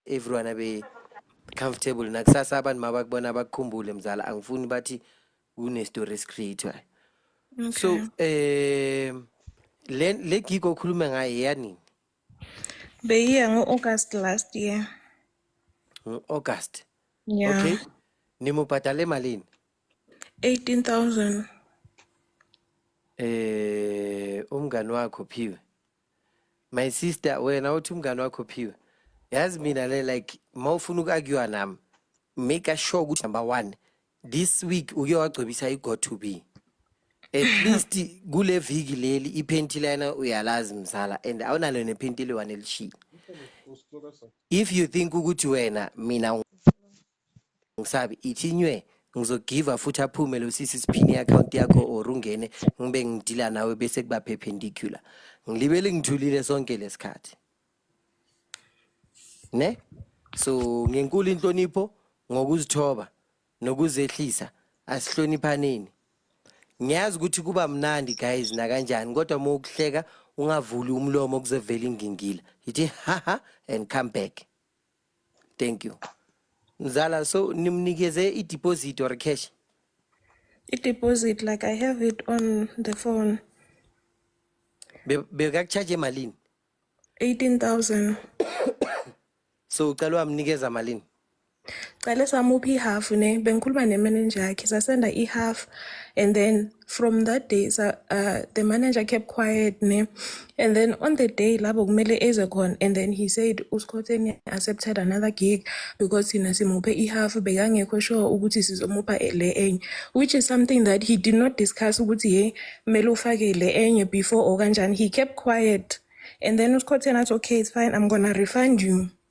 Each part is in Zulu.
everyone abe comfortable nakusasa abantu mabakubona abakukhumbule mzala angifuni bathi kune story esicreatwayo okay. so eh le le gig okhuluma ngayo yanini beyiya ngo-august last year ngo-august yeah. okay nimubhadale malini 18000 eh umngani wakho phiwe my sister wena uthi umngane wakho phiwe yazi mina le like ma ufuna uku-akywa nami make sure ukuthi number one this week uke wagcobisa i-go to be at least kule viki leli iphenti lena uyalazi mzala and awunalo nephenti eliwane elishile if you think ukuthi wena mina ngisabi ithi nywe ngizogiva futhi aphume lo sisi siphini i-akhawunti yakho or ungene ngibe ngidila nawe bese kuba perpendicular ngilibele ngithulile sonke lesikhathi ne so ngenkulu inhlonipho ngokuzithoba nokuzehlisa asihloniphaneni ngiyazi ukuthi kuba mnandi guys nakanjani kodwa uma ukuhleka ungavuli umlomo kuzovela ingingila yithi haha and come back thank you mzala so nimnikeze i-deposit or cash i-deposit like i have it on the phone Be- bekakucharge emalini 18000 so ucela wamnikeza malini cale samupha ihalf ne bengikhuluma nemanager yakhe sasenda ihalf and then from that day sa, uh, the manager kept quiet ne and then on the day labo kumele eze khona and then he said uskhotheni accepted another gig because thina simuphe ihalf bekangekho sure ukuthi sizomupha le enye which is something that he did not discuss ukuthi ye kumele ufake le enye before or kanjani he kept quiet and then uskhotheni athi okay it's fine i'm gonna refund you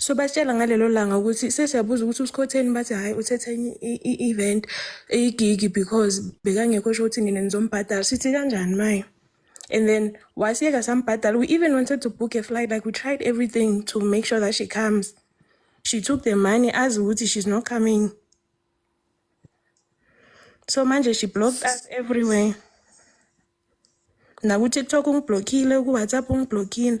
so basitshela ngalelo langa ukuthi sesiyabuza ukuthi usikhotheni bathi hhayi uthethe enye i-event igigi because bekangekho sho ukuthi nina nizombhadala sithi kanjani maye and then wasiyeka sambhadala we even wanted to book a flight like we tried everything to make sure that she comes she took the money azi ukuthi she's not coming so manje she blocked us everywhere nakutiktok ungiblockile kuwhatsapp ungiblockile